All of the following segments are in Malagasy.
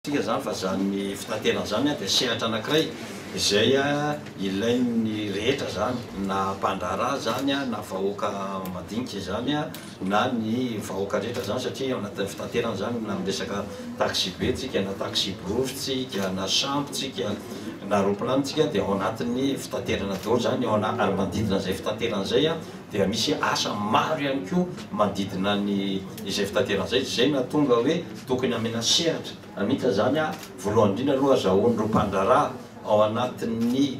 Hitantsika izany fa izany fitaterana izany dia sehatra anankiray izay ilain'ny rehetra izany, na mpandraharaha izany, na vahoaka madinika izany, na ny vahoaka rehetra izany satria ao anatin'ny fitaterana izany na miresaka taxibe tsika, na taxi-brousse tsika, na sambo tsika, na roplano tsika dia ao anatin'ny fitaterana daholo izany, ary manodidina izay fitaterana izay dia misy asa maro ihany koa manodidina izay fitaterana izay, izay nahatonga hoe Tokony amena sehatra amita zany a volohany indrindra aloha azahoany ireo mpandraharaha ao anatin'ny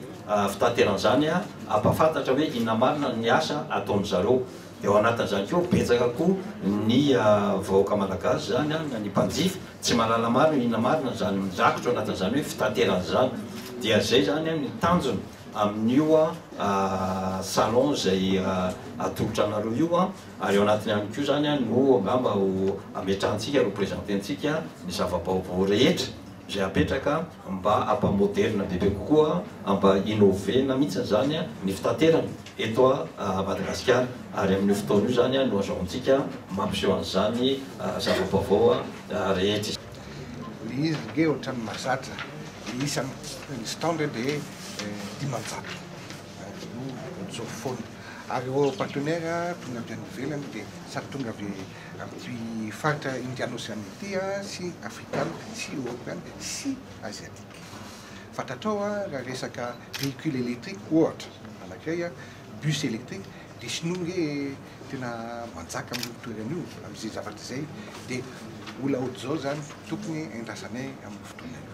fitaterana zany a ampafantatra hoe inona marina ny asa ataony zareo de ao anatin'izany koa betsaka koa ny vahoaka malagasy zany a na ny mpanjifa tsy mahalala marina inona marina zany mirakitra ao anatin'izany hoe fitaterana zany dia zay zany a ny tanjona amin'io a salon zay atolotra anareo io a. Ary ao anatiny ihany koa izany no angamba ho ametrahantsika, ho presententsika ny zava-baovao rehetra izay apetraka mba hampa-moderina bebe kokoa, hampa-innover-na mihitsy izany ny fitaterana eto Madagasikara. Ary amin'io fotoana io izany no azahoantsika mampiseho an'izany zava-baovao rehetra izany. Ilay izy ange ohatran'ny mahazatra, ny isan'ny stands dia dimanjato. Anjinoa mijoro foana. Ary ireo partenaires tonga avy any ivelany dia samy tonga avy amin'ity faritra Indiano-Ocean ity sy Afrikana sy Eoropeana sy Asiatique. Fantatrao raha resaka véhicule électrique ohatra anankiray, bus électrique, dia Shinoa nge tena manjaka amin'io toerana io amin'izay zavatra izay dia mbola ohatr'izao izany tokony endrasanay amin'io fotoana io.